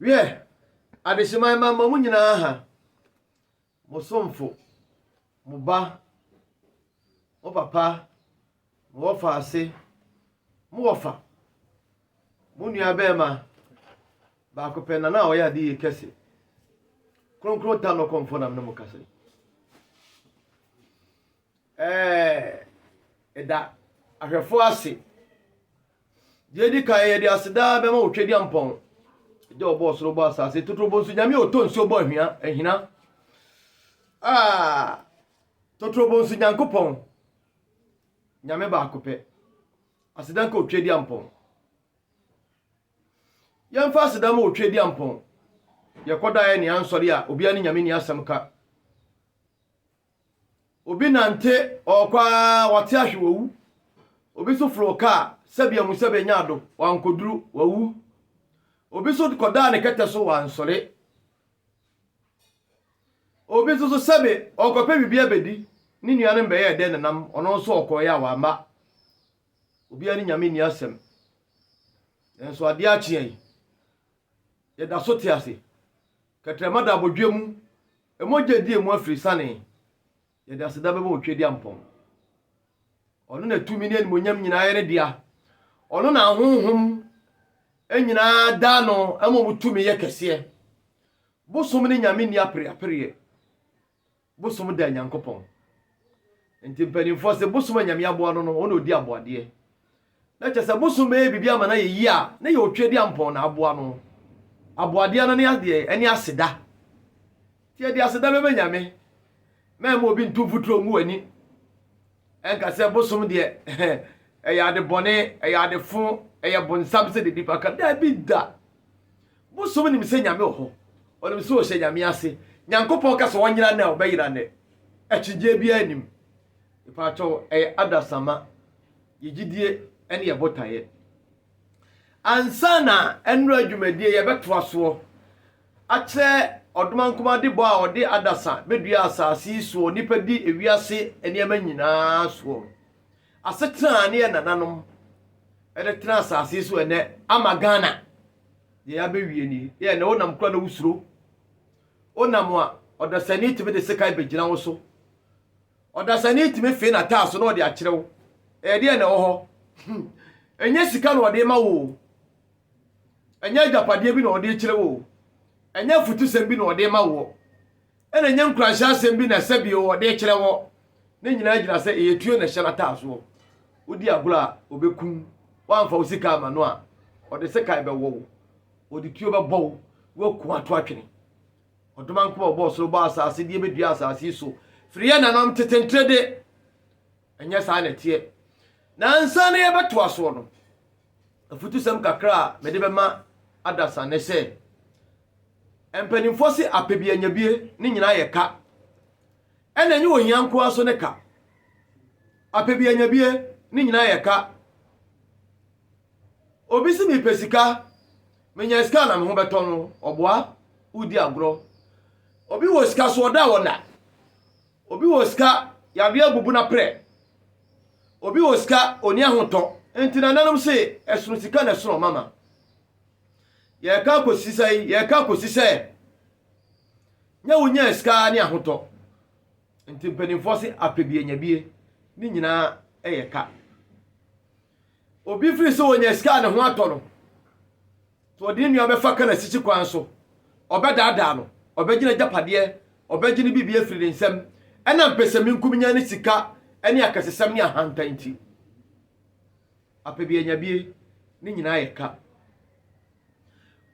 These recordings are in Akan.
Wiɛ, adehyema mma mma mo nyinaa ha, mo somfo, mo ba, mo papa, mo wɔfaase, mo wɔfa, mo nua bɛrima, baako pɛ na na ɔyɛ ade yie kɛse. Kronkron ta no kɔmfo nam ne mo kasa yi. Ɛɛ, da ahwɛfo ase. Deɛ edi kan, yɛde aseda bɛma wo Twediampɔn, agya ɔbɔ ɔsoro bɔ asase, totorobɔ nso nyame ɔtɔ nsuo bɔ ahwia, ahina. Ah, totorobɔ nso Nyankopɔn, nyame baako pɛ. Aseda nka Otwediampɔn. Yɛmfa aseda ma Otwediampɔn. Yɛkɔdaeɛ ne ansɔre a, obiara ne nyame ni asɛm ka. Obi nante, ɔɔkɔ ara, ɔte ahwe, wawu. Obi so foroo kaa, sɛbi amu sɛ benya ado, wankoduru, wawu. Obi so kɔdaa ne kɛtɛ so, wansɔre. Obi nso so sɛbi ɔɔkɔpɛ biribi abedi, ne nuanom bɛyɛɛ dɛ nenam, ɔno nso ɔkɔɔeɛ a wamma. Obiara ne Nyame nni asɛm. Nanso adeɛ akye yɛn. Yɛda so te ase. Kɛtrɛma da abodwoɔ mu, mogya di emu afiri sane, yɛde aseda bɛma Otwedeampɔn. Ɔno na tumi ne animuonyam nyinaa yɛ ne dea, ɔno na ahonhom nyinaa da no ma wɔn tumi yɛ kɛseɛ. Bosom ne nyame nni apereapereɛ. Bosom da Nyankopɔn nti mpanimfoɔ se bosom a Nyame aboa no no, ɔno na ɔdi aboadeɛ. Na kyɛ sɛ bosom bɛyɛ biribi ama no ayɛ yie a, ne yɛ Otwadiampɔn na aboa no. Aboadeɛ no ne adeɛ ɛne aseda. Nti yɛde aseda bɛma Nyame. Mɛmma obi nto mfuturo ngu w'ani ɛnka sɛ bosom deɛ ɛyɛ ade bɔne, ɛyɛ ade fo, ɛyɛ bonsam sɛdeɛ nnipa ka. Daabi da! Bosom nim sɛ Nyame wɔ hɔ, ɔnim sɛ ɔhyɛ Nyame ase, Nyankopɔn ka sɛ ɔnyera nnɛ a ɔbɛyera nnɛ, akyigyeɛ biara nnim. Mpaatwɔ ɛyɛ adasama, yɛ gyidie ɛne yɛ botaeɛ. Ansa na ɛnora dwumadie yɛ bɛtoa soɔ akyerɛ ɔdomankomade bɔ a ɔde adasa bɛdua asaase yi soɔ nipa di ewiase nneɛma nyinaa soɔ no, asetena a ne yɛ nananom ɛde tena asaase yi so ɛnɛ ama Ghana. Deɛ abewie nie. Yɛ na wonam kura na wosuro. Wonam a, ɔdasani tumi de sekan bɛgyina wo so. Ɔdasani tumi fee n'ataa so na ɔde akyerɛ wo. Ɛyɛ deɛ na ɛwɔ hɔ. Hmm. Ɛnyɛ sika na ɔde ma wo o. Ɛnyɛ agyapadeɛ bi na ɔde kyerɛ wo o. Ɛnyɛ afutusɛm bi na ɔde ma woɔ. Ɛna ɛnyɛ nkuranhyɛ asɛm bi na ɛsɛ bio ɔde rekyerɛ hɔ. Ne nyinaa gyina sɛ ɛyɛ tuo na ɛhyɛ n'ataasoɔ. Wodi agorɔ a, ɔbɛkum wo. Woamfa wo sika amma no a, ɔde sekan bɛwɔ wo. Ɔde tuo bɛbɔ wo na waku ato atwene. Ɔdomankoma a ɔbɔɔ soro bɔɔ asase deɛ bɛdua asase yi so firi yɛn nananom tetentrede. Ɛnyɛ saa na ɛteɛ. Na ansa na yɛbɛtoa soɔ no, Afutusɛm kakra a mede bɛma adasa ne sɛ, mpanimfoɔ se apɛbianyabie ne nyinaa yɛ ka. Ɛna ɛnyɛ ohia nko ara so ne ka. Apɛbianyabie ne nyinaa yɛ ka. Obi se mepɛ sika, menya sika a na me ho bɛtɔ no, ɔboa, wodi agorɔ. Obi wɔ sika so ɔda a ɔnna. Obi wɔ sika, yareɛ abubu no aprɛ. Obi wɔ sika, ɔnni ahotɔ. Nti nananom se, ɛsono sika na ɛsono ɔma ma. Yɛreka akɔsi sɛn? Yɛreka akɔsi sɛ, nyɛ wonya sika ara ne ahotɔ. Nti mpanimfoɔ se, apɛbianyabie, ne nyinaa yɛ ka. Obi firi sɛ ɔnya sika a ne ho atɔ no, sɛ ɔde ne nua bɛfa ka n'asisi kwan so, ɔbɛdaadaa no, ɔbɛgye n'agyapadeɛ, ɔbɛgye ne biribi afiri ne nsam, ɛnam pɛsɛmenkominya ne sika ne akɛsesɛm ne ahantan nti. Apɛbianyabie, ne nyinaa yɛ ka.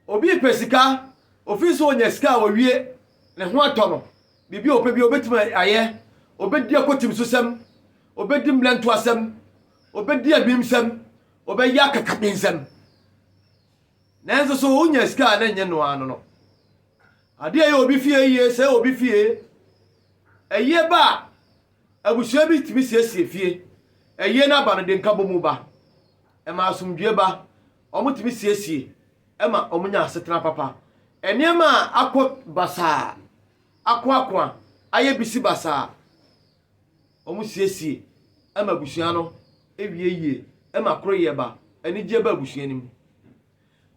Obi repɛ sika, ofi sɛ onya sika a owie, ne ho atɔ no, biribi a ɔpɛ bi obetumi ayɛ, obedi akotimsosɛm, obedi mmerɛntoasɛm, obedi abimsɛm, obɛyɛ akakabensɛm. Nanso so onya sika a na ɛnyɛ no ara no no. Ade a ɛyɛ obi fie yie sɛ obi fie. Ɛyie ba a, abusua bi tumi siesie fie. Ɛyie no aba no de nkabɔmu ba. Ɛma asomdwoe ba. Wɔtumi siesie ma wɔnya asetena papa. Nneɛma a akɔ basaa, akoakoa, ayɛ bisi basaa, wɔsiesie ma abusua no wie yie, ɛma koroyɛ ba, anigyeɛ ba abusua no mu.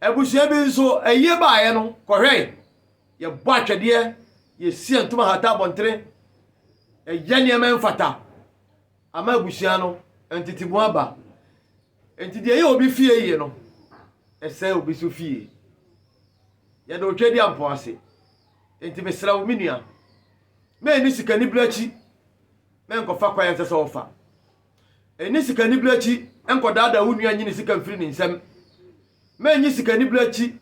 Abusua bi nso, ayie baeɛ no, kɔhwɛe, yɛbɔ atwɛdeɛ, yɛsi antum ahata abɔntene, yɛyɛ nneɛma mfata ama abusua no, ntetemu aba. Enti deɛ ɛyɛ obi fie yie no, ɛsɛe obi nso fie. Yɛde otwadeɛ ampɔ ase. Enti mesrɛ wo, me nua, mɛnni sikanibere akyi, mɛnkɔfa kwan a ɛnsɛ sɛ wofa. Ɛnni sikanibere akyi, ɛnkɔdaadaa wo nua nyi ne sika mfiri ne nsam. Mɛnyi sikanibere akyi,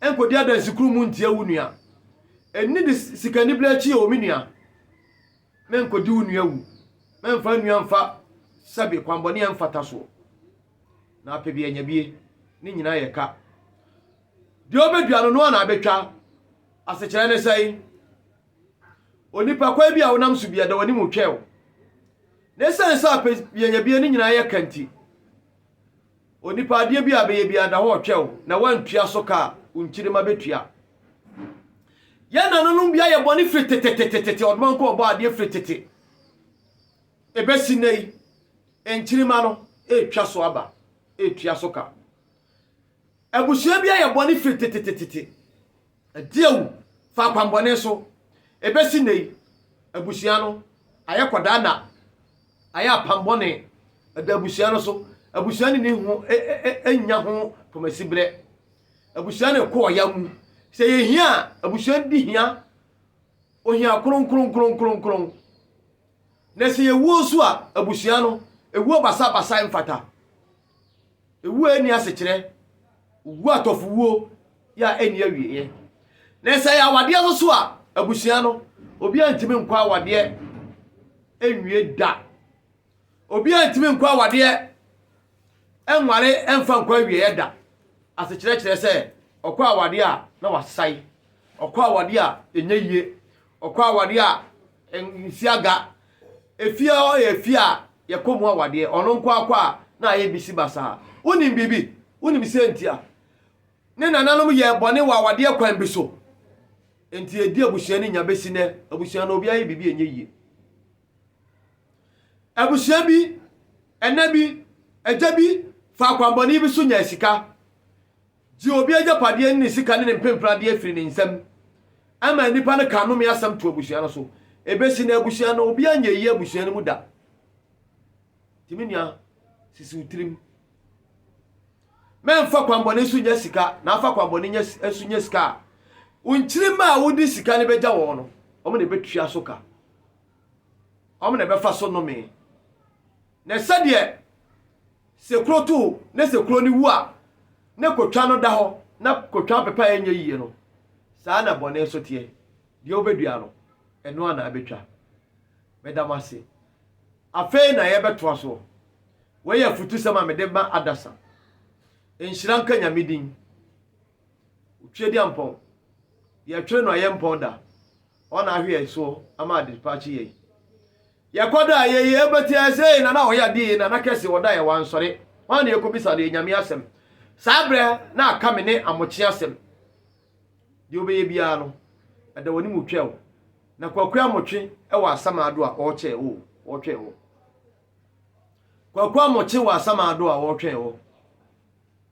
ɛnkɔdi adansikuru mu ntia wo nua. Ɛnni sikanibere akyi o, me nua. Mɛnkɔdi wo nua awu. Mɛmfa nnua mfa sɛbe kwammɔne a ɛmfata soɔ. Na apɛ bi anya bie. Ne nyinaa yɛ ka. Deɛ ɔbɛdua no, noa na abɛtwa. Asekyerɛ ne sɛn? Onipa kwan bi a wonam so biara, da w'anim twɛw. Na ɛsiane sɛ apɛ bi anya bie, ne nyinaa yɛ ka nti, Onipa adeɛ bi a bɛyɛ biara da hɔ ɔtwɛw na wantua so ka a, wo nkyirimma bɛtua. Yɛn nananom bi ayɛ bɔne firi tetetetetete, ɔdomankɔ ɔbɔ adeɛ firi tete. Ɛbɛsi nnɛ yi, nkyirimma no ɛretwa so aba, ɛretua so ka. Abusua bi ayɛ bɔne firi tetetetete, adi awu fa akwammɔne so. Ɛbɛsi nnɛ yi, abusua no ayɛ kɔdaa na Ayɛ apam bɔne da abusua no so. Abusua ne ne ho nya ho pɔmasibrɛ. Abusua no rekɔ ɔya mu. Sɛ yɛ hia a, abusua di hia. Ohia kronkronkronkronkron. Na sɛ yɛwuo nso a, abusua no, ɛwuo basabasa mfata. Ewu a enni asekyerɛ, owu atɔfowuo yɛ a enni awieɛ. Na sɛ ɛyɛ awadeɛ no so a, abusua no, obiara ntumi nkɔ awadeɛ nwie da. Obiara ntumi nkɔ awadeɛ nware mfa nkɔ awieɛ da. Asekyerɛ kyerɛ sɛ, ɔkɔ awadeɛ a, na wasae. Ɔkɔ awadeɛ a, ɛnyɛ yie. Ɔkɔ awadeɛ a nsi aga. Efie a ɔyɛ efie a yɛkɔ mu awadeɛ. Ɔno nko ara kɔ a na ayɛ bisi basaa. Wonim biribi? Wonim sɛ nti a ne nananom yɛɛ bɔne wɔ awadeɛ kwan bi so? Enti ɛdi abusua no nya bɛsi nnɛ. Abusua no obiara yɛ biribi a ɛnyɛ yie. Abusua bi, ɛna bi, agya bi fa akwammɔne bi so nyaa sika. Gye obi agyapadeɛ ne ne sika ne ne mpempradeɛ firi ne nsam ma nnipa no ka nnome asɛm to abusua no so. Ɛbɛsi nnɛ abusua no, obiara nyɛ yie abusua no mu da. Nti me nua, sisi wo tirim. Mɛmfa kwanbɔne so nya sika na afa kwanbɔne nya nso nya sika a, wo nkyirimma a wode sika no bɛgya wɔn no, wɔn na ɛbɛtua so ka. Wɔn na ɛbɛfa so nnome. Na sɛdeɛ sekuro to na sekuro no wu a, na kotwa no da hɔ, na kotwa mpepa a ɛnyɛ yie no, saa na bɔne nso teɛ. Deɛ wobɛdua no, ɛno ara na wobɛtwa. Meda mo ase. Afei na yɛbɛtoa soɔ. Wei yɛ afutusɛm a mede ma Adasa. Nhyira nka Nyame din. Otwedeampɔn, yɛtwere no a yɛmpɔn da. Ɔna ahwe yɛn soɔ ama ade pa akye yɛn. Yɛkɔda a yɛyi ɛbɛte ɛsei na na ɔyɛ adeɛ yei na na kɛse ɔda yɛ wansɔre. Hwan na yɛkɔbisa no yɛ Nyame asɛm? Saa berɛ na aka me ne Amokye asɛm. Deɛ wobɛyɛ biara no, ɛda w'anim wotwa o. Na Kwaku Amokye wɔ Asamaado a ɔrekyɛ o, ɔretwɛn wo. Kwaku Amokye wɔ Asamaado a ɔretwɛn wo.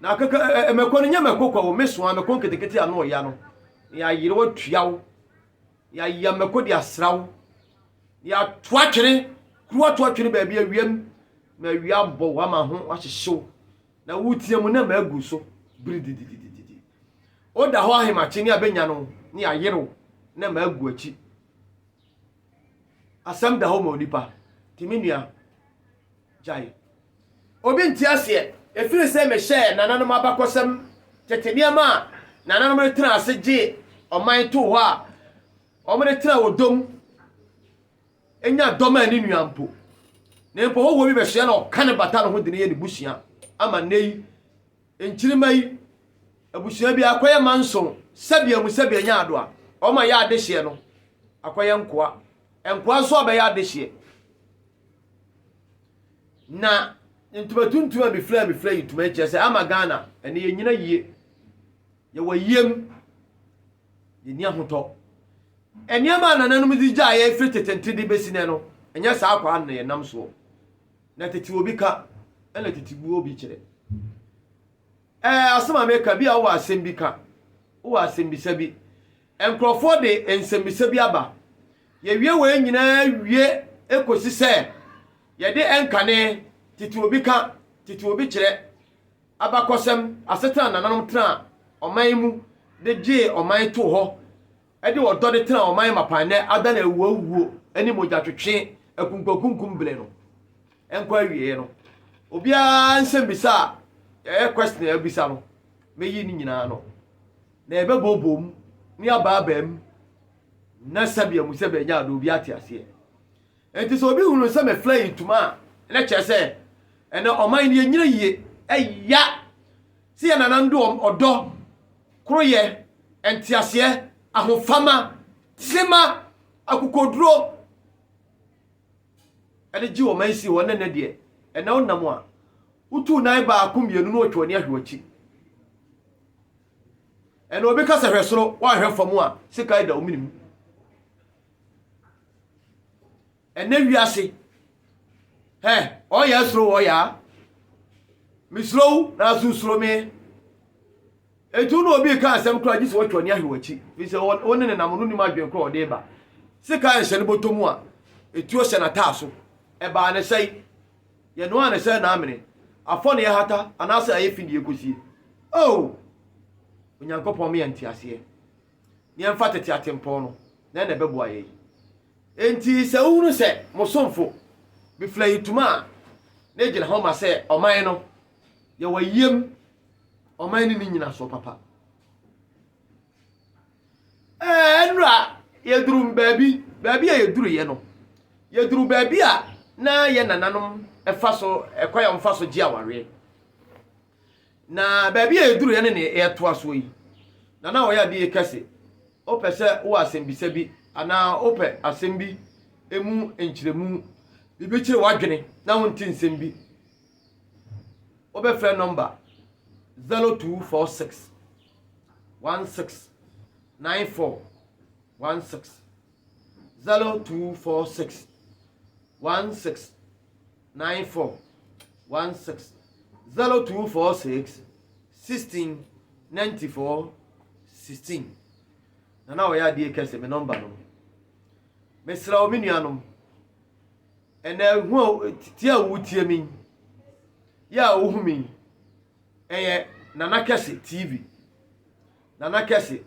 Na kɛkɛ ɛ ɛ mɛkɔ no nyɛ mɛkɔ kwa o mesoa mɛkɔ nketekete ano ɔya no yɛayere wo atua wo yɛayɛ mɛkɔ de asra wo yɛato atwene kuru ato atwene baabi awiam na awia abɔ wo ama ho ahyehyew na wotia mu na maagu so biri dididididi woda hɔ ahemakye ne abɛnya no ne ayere wo na maagu akyi asɛm da hɔ ma onipa nti me nua gyae. Obi nte aseɛ. Ɛfiri sɛ mehyɛɛ nananom abakɔsɛm tete nneɛma a nananom de tena ase gye ɔman too hɔ a wɔde tena wɔ dɔm nya dɔm a ne nua mpo na mpo hɔhoɔ bi bɛsoɛ na ɔka ne bata no ho de no yɛ ne busua ama nnɛ yi Nkyirimma yi, abusua bi akɔyɛ mma nson sɛbea mu sɛbea nya ado a, wɔma yɛ adehyeɛ no akɔyɛ nkoa. Nkoa nso abɛyɛ adehyeɛ. Na ntoma tuntum a mefira mefira yi ntoma yi kyerɛ sɛ ama Ghana ɛne yɛnyina yie. Yɛwɔ ayiem. Yɛni ahotɔ. Nneɛma a nananom de gyaeɛ firi tetente de bɛsi nɛ no, ɛnyɛ saa kwa no na yɛnam soɔ. Na tete obi ka ɛna tete buo obi kyerɛ. Ɛɛ asɛm a meka bi a wowɔ asɛm bi ka, wowɔ asɛmbisa bi. Nkurɔfoɔ de nsɛmbisa bi aba. Yɛwie wei nyinaa wie kɔsi sɛ yɛde nkane, tete obi ka, tete obi kyerɛ, abakɔsɛm, asetena a nananom tenaa ɔman mu de gyee ɔman too hɔ de ɔdɔ de tena ɔman mapa nnɛ adan awuawuo ne mogyatwetwe akunkumakunkum bere no nkɔ awieɛ no obiara nsɛmmisa a ɛyɛ question a abisa no mɛyi ne nyinaa no na yɛbɛbooboo mu ne abaabaa mu na sɛbea mu sɛbea nyaado obi ate aseɛ Enti sɛ obi hunu sɛ meflɛe ntoma a, na kyerɛ sɛ ɛnɛ ɔman no yɛnyina yie. Ɛya sɛ yɛn nananom de wɔn ɔdɔ, koroyɛ, nteaseɛ, ahofama, tema, akokoduro de gyee ɔman sii hɔ na ɛnɛ deɛ, ɛnɛ wonam a, wotu nan baako mmienu na wɔtwa w'ani ahwɛ w'akyi. Ɛnɛ obi ka sɛ hwɛ soro, woanhwɛ fam a, sekan da wo mene mu. ɛnɛ wiase hɛ ɔyɛ soro wɔ yaa mesuro wo nanso nsuro me etu na obi ka asɛm koraa gye sɛ wɔtwe ɔne ahwɛ w'akyi fi sɛ wo ne ne nam no nim adwene korɔ ɔde ba sika nhyɛ no bɔtɔ mu a etuo hyɛ n'ataa so ɛbaa ne sɛe yɛnoa ne sɛ naamene afɔ ne yɛhata anaasɛ ayɛ fi ne yɛkɔsie oh onyankopɔn meyɛ nteaseɛ Yɛmfa tete atempɔn no, dɛn na ɛbɛboa yɛn? Enti sɛ wohunu sɛ mo somfo befura ntoma a na egyina hɔ ma sɛ ɔman no, yɛ wayiem ɔman no ne nyinasoɔ papa. Ɛɛ, nnura yɛduru baabi, baabi a yɛduruiɛ no, yɛduru baabi a na yɛn nananom fa so, ɛkwan a wɔfa so gye awareɛ. Na baabi a yɛduruiɛ ne nea yɛretoa soɔ yi, Nana Ɔyɛadeɛ ka se, Wopɛ sɛ wowɔ asɛmbisa bi anaa wopɛ asɛm bi mu nkyerɛmu, biribi kyere w'adwene na wonte nsɛm bi, wobɛfrɛ nɔmba 0246 169416, 0246 16. nine four one six zero two four six sixteen ninety four sixteen na na ɔyɛ adeɛ kɛse me nɔmba no mesrɛ wo me nuanom ɛnɛ hu a tie a wotie me yɛ a wohu me ɛyɛ nana kɛse tv nana kɛse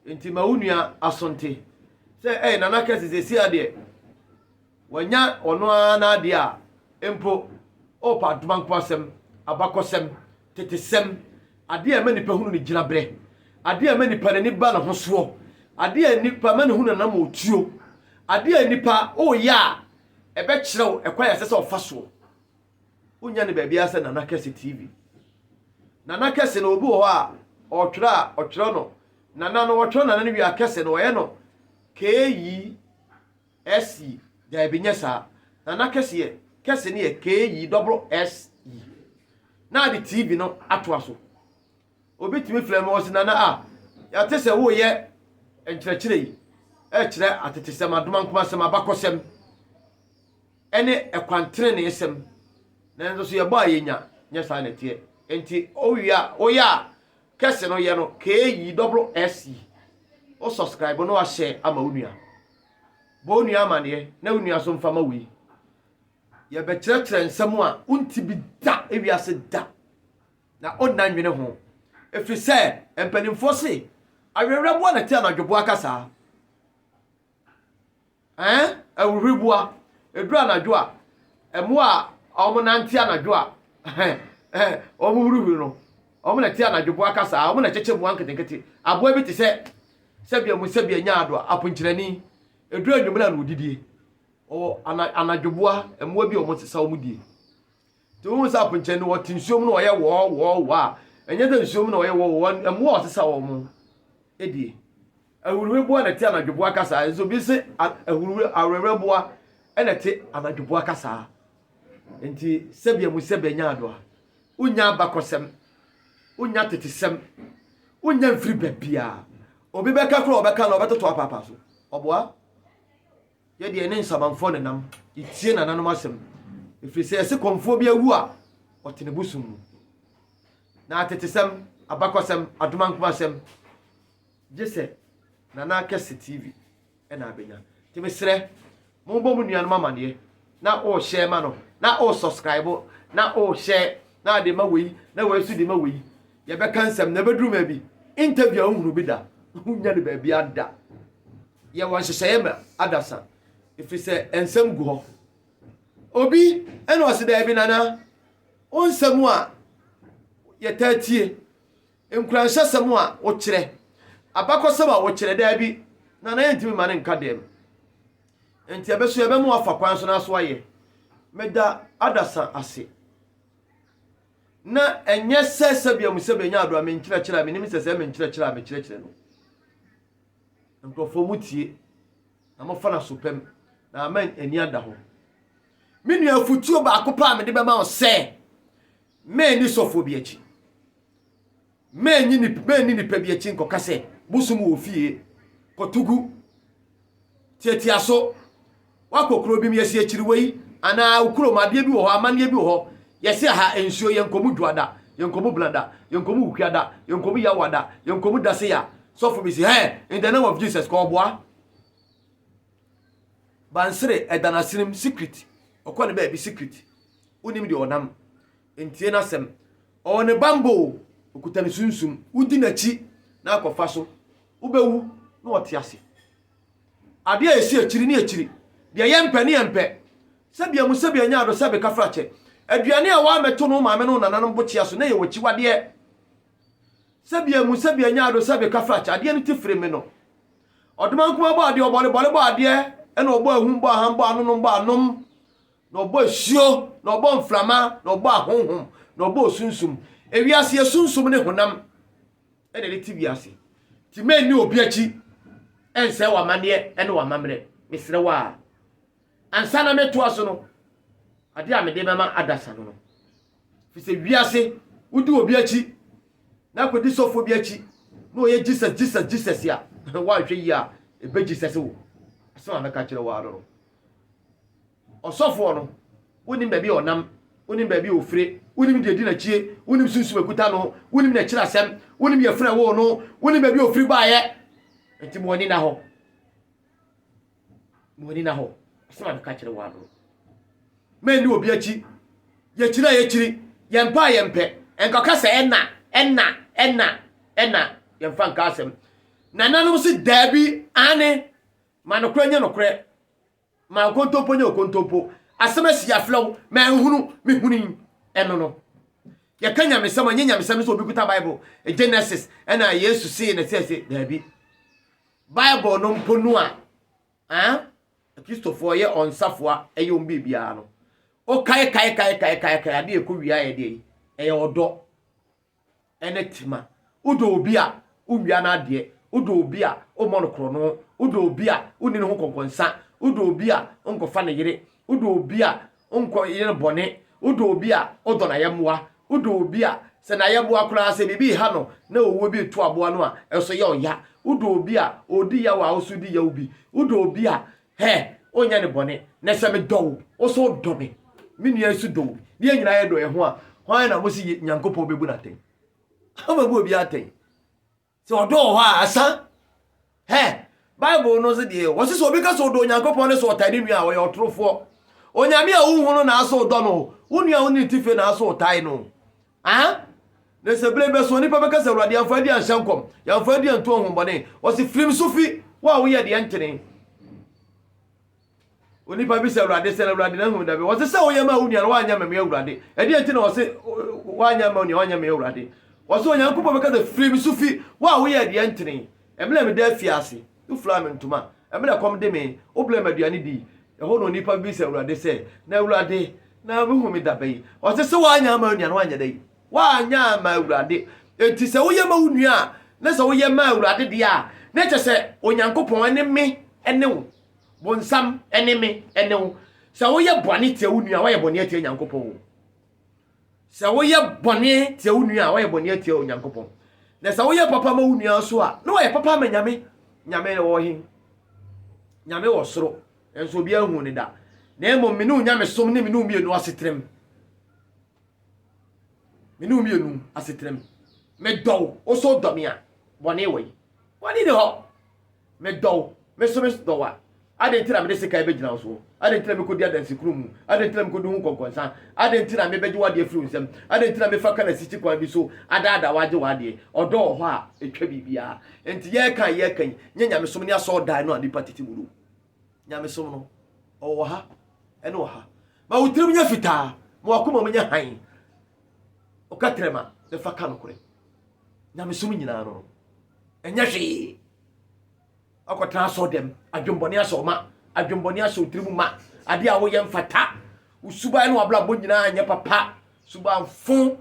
nti ma wo nua asonte sɛ ɛyɛ nana kɛse sɛ si adeɛ Wanya ɔno ara n'ade a mpo ɔrepa adoma nko asɛm, abakɔsɛm, tetesɛm, ade a ɛma nipa hunu ne gyinaberɛ, ade a ɛma nipa n'ani ba ne ho soɔ, ade a nipa ɛma no hunu n'anam a ɔtuo, ade a nipa woyɛ a ɛbɛkyerɛ wo ɛkwan a ɛsɛ sɛ ɔfa soɔ. Wonya ne baabiara sɛ Nana Kɛse TV. Nana Kɛse no obi wɔ hɔ a ɔtwerɛ a ɔtwerɛ no Nana no, ɔtwerɛ Nana no wie a Kɛse no wɔyɛ no KE. SE, Daabi, nyɛ saa. Nana kɛseɛ, kɛse no yɛ KE double SE. Na ade TB no atoa so. Obi tumi frɛ me, ɔse, Nana a, yɛate sɛ woreyɛ nkyerɛkyerɛ yi rekyerɛ atetesɛm, adomankomasɛm, abakɔsɛm, ne ɛkwan teneneesɛm, nanso so yɛbɔ a yɛnya? Nyɛ saa na ɛteɛ. Enti wowie a, woyɛ a, kɛse no yɛ no KE double SE. Wo subscribe no ahyɛ ama wo nua. Bɔ wo nua amaneɛ na wo nua so mfa ma woi. Yɛbɛkyerɛkyerɛ nsɛm a wonte bi da ewiase da na onna nnwene ho. Ɛfiri sɛ mpanimfoɔ se awerɛwerɛboa na ɛte anadwoboa kasaa. Ɛɛ, ahuhuriboa. Ɛduru anadwo a, mmoa a wɔnante anadwo a wɔhurihuri no, wɔn na ɛte anadwoboa kasaa, wɔn na ɛkyekyɛ mmoa nketenkete. Aboa bi te sɛ Sɛbea mu sɛbea nyaa do a, aponkyerɛnee, edur anwummera na odidie. Ɔwɔ ana anadwoboa, mmoa bi a wɔn sesa wɔn die. Nti wohu sɛ aponkyerɛnee no ɔte nsuom na ɔyɛ wɔɔ wɔɔ wɔɔ a, ɛnyɛ sɛ nsuom na ɔyɛ wɔɔ wɔɔ, mmoa a ɔsesa wɔn die. Ahuruheboa na ɛte anadwoboa kasaa, nso obi se a ahuruhwe awerɛwerɛboa na ɛte anadwoboa kasaa. Nti sɛbea mu sɛbea nyaa do a, Wonnya abakɔsɛm, wonnya atetesɛm, wonnya mfiri baabiara. Obi bɛka koraa ɔbɛka na ɔbɛtoto apaapa so. Ɔboa? Yɛ deɛ ne nsamanfoɔ nenam, yɛtie nananom asɛm. Ɛfiri sɛ yɛse kɔmfoɔ bi awu a, ɔte ne bosom mu. Na atetesɛm, abakɔsɛm, adomankomasɛm, gye sɛ Nana Kɛse TV. na abɛnya nti mesrɛ mombɔ mo nuanom amaneɛ na o hyɛ ma no na o subscribe na o hyɛ na ade ma wei na wei so de ma wei yɛbɛka nsɛm na ɛbɛduru ma bi interview a wohunu bi da wonya no baabi ada yɛwɔ nhyehyɛeɛ ma adasa ɛfiri sɛ nsɛm gu hɔ obi ɛna ɔse daabi nana wo nsɛm a yɛtaa tie Nkuranhyɛsɛm a wokyerɛ. Abakɔsɛm a wokyerɛ, dabi, na na yɛntumi mma no nka dɛm. Enti ɛbɛ so yɛbɛma woafa kwan so na so ayɛ. Meda adasa ase. Na ɛnyɛ sɛ sɛbea mu sɛ menya ado a menkyerɛkyerɛ a menim sɛ sɛ menkyerɛkyerɛ a mekyerɛkyerɛ no, nkurɔfoɔ motie na mofa no asopam na ama ani ada ho. Me nua afotuo baako paa mede bɛma wo sɛ, mɛnni sɔfoɔ bi akyi. Manni nnipa bi akyi nkɔka sɛ, Mosom wɔ ofie, kɔto gu, tiatia so, woakɔ kuro bi mu, yɛsi akyiri wei, anaa wo kurom adeɛ bi wɔ hɔ, amanneɛ bi wɔ hɔ, yɛsi aha nsuo, yɛnkɔ mu dwoada, yɛnkɔ mu blada, yɛnkɔ mu wukuada, yɛnkɔ mu yawada, yɛnkɔ mu daseya. Sɔfo bi si, hey, in the name of Jesus, kɔ ɔboa. Bansere ɛda n'asenem, secret. Ɔkɔ ne baabi, secret. Wonim deɛ ɔnam. ntie n'asɛm. Ɔwɔ ne bammɔ o, okuta ne sunsum. Wudi n'akyi na akɔfa so. Wobɛwu na ɔte ase. Adeɛ a ɛsi akyiri ne akyiri. Deɛ yɛmpɛ ne yɛmpɛ. Sɛbea mu sɛbea nya ado sɛbe kafrakyɛ. Aduane a woammɛto no wo maame ne wo nananom bokyea so na ɛyɛ w'akyiwadeɛ. Sɛbea mu sɛbea nya ado sɛbe kafrakyɛ. Adeɛ no ti firi me no. Ɔdomankumaa bɔ adeɛ, ɔbɔlebɔle bɔ adeɛ, ɛna ɔbɔ ahum bɔ aham bɔ anonom bɔ anom. Na ɔbɔ asuo, na ɔbɔ mframa, na ɔbɔ ahonhom, na ɔbɔ osunsum. Ewiase yɛ sunsum ne honam na ɛde te wiase. Ti mɛ nni obi akyi ɛnsɛe w'amanneɛ ɛne w'amammerɛ. Mesrɛ wo a. Ansa na metoa so no, adeɛ a mede bɛma adasa no no. Firi sɛ wiase, wodi obi akyi, na akɔdi sɔfoɔ bi akyi, na ɔyɛ Jesus, Jesus, Jesus a, woanhwɛ yie a, ɛbɛ Jesus wo. Asɛm a mɛka kyerɛ wo ara no no. Ɔsɔfoɔ no, wonim baabi a ɔnam, wonim baabi a ɔfire, wonim deɛ di n'akyie, wonim sunsum ɛkuta no, wonim n'akyiri asɛm, wonim yɛ frɛ woo no, wonim baabi a ɔfiri baeɛ. Nti mo ani na hɔ. Mo ani na hɔ. Asɛm a meka kyerɛ wɔn ano. Mɛnni obi akyi. Yɛkyiri a yɛkyiri, yɛmpɛ a yɛmpɛ. Nkɔka sɛ ɛna, ɛna, ɛna, ɛna. Yɛmfa nka asɛm. Nananom se daabi, aane, Ma nokorɛ nyɛ nokorɛ, ma okontompo nyɛ okontompo. Asɛm asi aflɛ wo, manhunu, mehunui. Ɛno no. Yɛka nyamesɛm a, ɛnyɛ nyamesɛm ne sɛ obi kuta Bible, Genesis, ɛna Yesu see na sɛ se, daabi. Bible no mpo no a, ah, Kristofoɔ yɛ wɔn safoa, ɛyɛ wɔn biribiara no. Wokaekaekaekaekae adeɛ ɛkɔ wie ayɛ deɛ yi, ɛyɛ ɔdɔ. ne tema. Wodɔ obi a, wowia n'adeɛ. Wodɔ obi a, wommɔ no korɔno. Wodɔ obi a, wonni ne ho nkɔnkɔnsa. Wodɔ obi a, wonkɔfa ne yere. Wodɔ obi a, wonkɔyɛ no bɔne. Wodɔ obi a, wodɔ n'ayɛmmoa. Wodɔ obi a, sɛ n'ayɛmmoa koraa, sɛ biribi reha no na owuo bi reto aboa no a, ɛso yɛ ɔya. Wodɔ obi a, ɔredi yaw a, wo nso di yaw bi. Wodɔ obi a, Hɛ, wonyɛ no bɔne. Na sɛ medɔ wo, wo nso wodɔ me. Me nua yi nso dɔ obi. Ne yɛn nyinaa yɛdɔ yɛn ho a, hwan na mose Nyankopɔn bɛbu no atɛn? Ɔbɛbu obiara atɛn. Sɛ ɔdɔ wɔ hɔ a, asa. Hɛ, Bible no nso deɛ, wɔse sɛ obi ka sɛ ɔdɔ Onyankopɔn ne sɛ ɔtae ne nua a, ɔyɛ ɔtorofoɔ. Onyame a wonhu no na asɛ wodɔ no. Wo nua a wone ne ti fie na asɛ wotae no. Aha, na sɛ bere bɛso onipa bɛka sɛ, Awurade, yɛamfa adi anhyɛ nkɔm, yɛamfa adi antu ahonhommɔne. Ɔse, Firi me so fi, wo a woyɛ deɛ ntene. Onipa bisa Awurade sɛ, na Awurade na ahu da bɛ? Ɔse, sɛ woyɛ ma wo nua no, woanyɛ ma me Awurade. Ɛdeɛ nti na ɔse, woanyɛ ma wo nua, woanyɛ me Awurade? Ɔse, Onyankopɔn bɛka sɛ, Firi me so fi, wo a woyɛ deɛ ntene. Ɛmena meda afiase. Wofuraa me ntoma. Ɛmerɛ a kɔm de me, wobrɛɛ me aduane dii. Ɛhɔ na onipa bisa Awurade sɛ, Na Awurade, na wohu me da bɛn? Ɔse, Sɛ woanyɛ ama onua no, woanyɛ dɛn? Woanyɛ ama Awurade. Enti sɛ woyɛ ma wo nua a, na sɛ woyɛ ma Awurade deɛ a, na ɛkyɛ sɛ Onyankopɔn ne me ne wo, bonsam ne me ne wo. Sɛ woyɛ bɔne tia wo nua a, woayɛ bɔne atia Nyankopɔn o. Sɛ woyɛ bɔne tia wo nua a, woayɛ bɔne atia Onyankopɔn. Na sɛ woyɛ papa ma wo nua nso a, na woayɛ papa ama Nyame. Nyame no wɔ he? Nyame wɔ soro, nanso obiara nhuu no da. Na mmom me ne wo nyamesom ne me ne wo mmienu asetrem. Me ne wo mmienu asetrem. Medɔ wo, wo nso wodɔ me a, bɔne wɔ he? Bɔne nni hɔ. Me dɔ wo, me nso me dɔ wo a, adɛn nti na mede sekan bɛgyina wo soɔ? Adɛn nti na mekɔdi adansekunumu mu? Adɛn nti na mekɔdi ho nkɔnkɔnsa? Adɛn nti na mebɛgye w'adeɛ afiri wo nsam? Adɛn nti na mefa ka na sisi kwan bi so adaadaa wo agye w'adeɛ? Ɔdɔ wɔ hɔ a, ɛtwa biribiara. Enti yɛreka a yɛreka yi nyɛ nyamesom ne asɔredan no a nnipa tete mu no. Nyamesom no, ɔwɔ wɔ ha, ɛne wɔ ha. Ma wo tirim nyɛ fitaa, ma w'akomam nyɛ hann. ɔka trɛma na fa ka nokorɛ nyamesom nyinaa no no ɛnyɛ hwee ɔkɔtena asɔ dɛm adwembɔne asɔ ma adwembɔne asɔ otiri mu ma adeɛ a woyɛ mfata wo suban ne wabrabɔ nyinaa nyɛ papa subanfo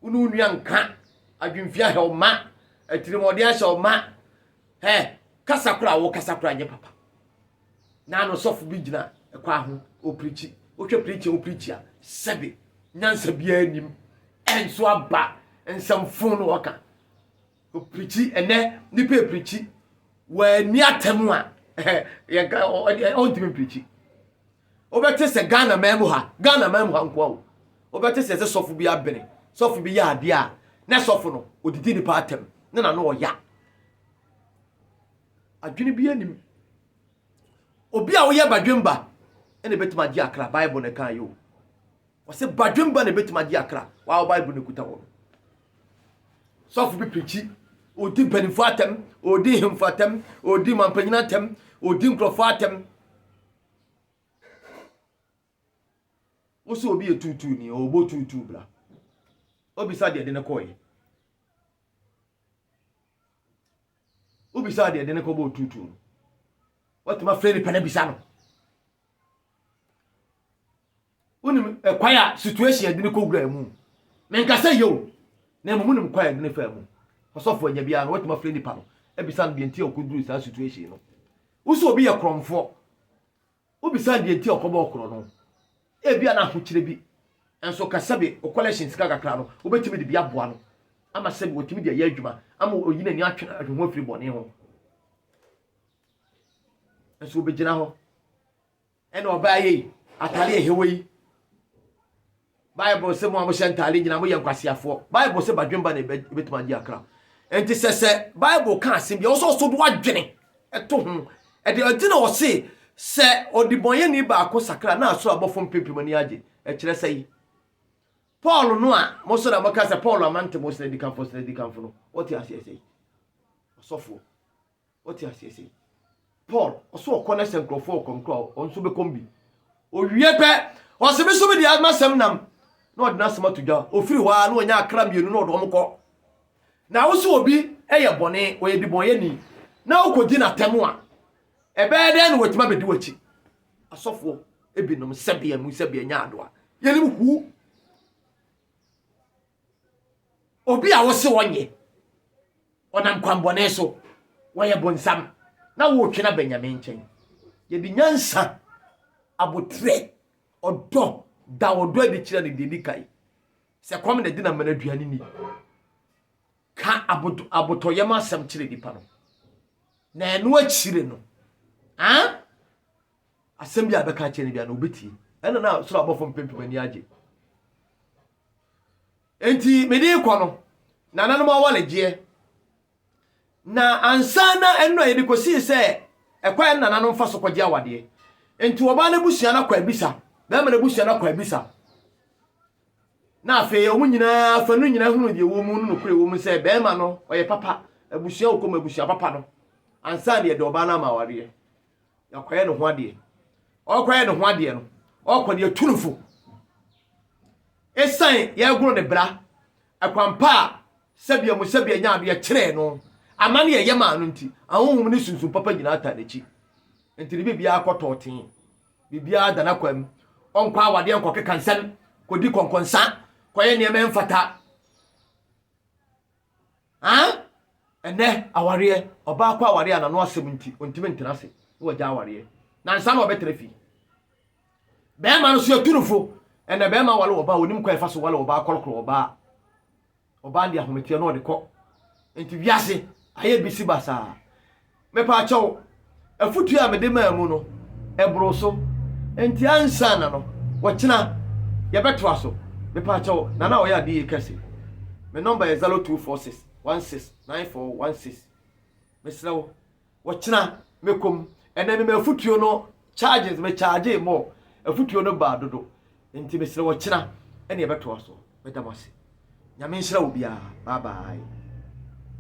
wo ne wo nua nka adwemfia hɛ ɔma atirimɔden ahyɛ ɔma Hɛ, kasa koro a wokasa kora nyɛ papa. Na ano sɔfo bi gyina ɛkwa ho, opirikyi. Wohwɛ pirikyi a opirikyi a, sɛbe nyansa biara nim. Ɛnso aba nsɛmfo na wɔka. Opirikyi, ɛnɛ nipa epirikyi. Wɔani atam a, ɔntumi mpirikyi. Wobɛte sɛ Ghana man mu ha, Ghana man mu ha nkoa o, wobɛte sɛ sɛ sɔfo bi abene, sɔfo bi yɛ adeɛ a, na sɔfo no, ɔdidi nipa atɛm, ne na no ɔya. Adwene bi anim. Obi a woyɛ badwemba, ɛna ɛbɛtumi agye akra, Bible na ɛka yɛ o. Wɔsɛ badwemba na ɛbɛtumi agye akra, wɔawo Bible na ɛkuta wɔ no. Sɔfo bi pirikyi, ɔdi mpanimfoɔ atɛm, ɔdi hemfo atɛm, ɔdi mampanyina atɛm, ɔdi nkurɔfoɔ atɛm, wo sɛ obi yɛ tuutuu ni ɔbɔ tuutuu bra obisa deɛ de ne kɔɔyɛ wobisa deɛ de ne kɔbɔ tuutuu no watumi afrɛ nipa no abisa no wonim ɛkwan a situation ɛde ne kɔwura mu menka sɛ yɛ o na mmom wonim kwan a ɛde ne fa mu ɔsɔfo anya biara no watumi afrɛ nipa no ebisa no deɛ nti a ɔkɔduru saa situation no wosɛ obi yɛ korɔmfoɔ wobisa deɛ nti a ɔkɔbɔ ɔkorɔ no ebia na ahokyerɛ bi nso ka sɛbe o collection sika kakra no wobɛtumi de bi aboa no ama sɛbe wɔtumi de ɛyɛ adwuma ama ɔyi n'ani atwe atwe ho afiri bɔne ho nso wobɛgyina hɔ Ɛna ɔbaa yɛ yi atare ɛhɛwɔ yi bible sɛ mo a mohyɛ ntare nyina moyɛ nkwaseafoɔ bible sɛ badwemba na ɛbɛtumi agye akra nti sɛ sɛ bible ka asɛm bi ɔsɛ ɔso do adwene ɛto ho ɛde ɔgyina ɔse sɛ ɔdebɔnyɛni baako sakra na asoro abɔfo mpempem ani agye ɛkyerɛ sɛ yi paul no a mo so na moka sɛ paul amante mo sɛ adikanfo sɛ adikanfo no wɔte aseɛ sɛ ɔsɔfoɔ Wote aseɛ sei? Paul, ɔso ɔkɔ na sɛ nkurɔfoɔ ɔkɔm kora ɔno nso bɛkɔm bi. Owie pɛ, ɔse me so me deɛ masɛm nam na ɔde n'asɛm ato dwa. Ofiri hɔ a na ɔnya akra mmienu na ɔde wɔn kɔ. Na wo so obi yɛ bɔne, ɔyɛ dibɔnyɛni na wokɔdi n'atɛm a, ɛbɛyɛ dɛn na watumi abɛdi w'akyi? Asɔfoɔ ebinom sɛbea mu sɛbea nya adoa. Yɛnim who. Obi a wose wɔnyɛ, ɔnam kwammɔne so, wɔyɛ bonsam, na woretwe no aba Nyame nkyɛn. Yɛde nyansa, aboterɛ, ɔdɔ, da ɔdɔ adi kyerɛ no deɛ ni kae. Sɛ kɔm na ɛde na mana aduane ni. Ka abotɔyam asɛm kyerɛ nipa no. Na ɛno akyire no, ah, asɛm bi a bɛka akyerɛ no bia na obetie ɛna na soro abɔfo mpempem ani agye enti mede kɔ no na nanom awaregyeɛ na ansa na ɛno a yɛde kɔsii sɛ ɛkwan no nananom fa so kɔgye awadeɛ enti ɔbaa no abusua no akɔ abisa bɛrima no abusua no akɔ abisa na afei wɔn nyinaa fa no nyinaa hunu deɛ wɔn mu no nokorɛ wɔn mu sɛ bɛrima no ɔyɛ papa abusua okɔm abusua papa no ansa na yɛde ɔbaa no ama awareɛ Yɛakɔyɛ ne ho adeɛ. Ɔkɔyɛ ne ho adeɛ no, ɔkɔ no yɛtu no fo. Ɛsiane yɛagoro ne bra, ɛkwampa a sɛbea mu sɛbea nyaa no yɛkyerɛɛ no, ama ne yɛyɛ maa no nti, ahonhom ne sunsum papa nyinaa taa n'akyi. Nti ne biribiara kɔ tɔɔtee. Biribiara da n'akwan mu. Ɔnkɔ awadeɛ nkɔkeka nsɛm, kɔdi kɔnkɔnsa, kɔyɛ nneɛma ɛmfata. Aa! Ɛnnɛ awareɛ, ɔbaa kɔ awareɛ a n'ano asɛm nti ɔntumi ntena ase na wagya awareɛ. Nansa na ɔbɛtena fie. Bɛrima no so yɛtu no fo. Ɛnnɛ bɛrima wale ɔbaa, ɔnim kwan ɛfa so wale ɔbaa, kɔrɔkorɔ ɔbaa. Ɔbaa de ahometeɛ na ɔde kɔ. Nti wiase ayɛ bisi basaa. Mepaakyɛw, afotu a mede maa mu no, ɛboro so. Enti ansa na no, wɔkyena yɛbɛtoa so. Mepaakyɛw, Nana a ɔyɛ ade yie kɛse, me nɔmba yɛ zɛro tuu fɔɔ sis wan sis naen fɔɔ wan sis. Mesrɛ wo, wɔkyena mɛkɔ mu. Ɛnnɛ mema afotuo no charges, me chargee more, afotuo no baa dodo. Enti mesrɛ wo, ɔkyena ɛne yɛbɛtoa so. Meda mo ase. Nyame nhyira obiara. Bye bye.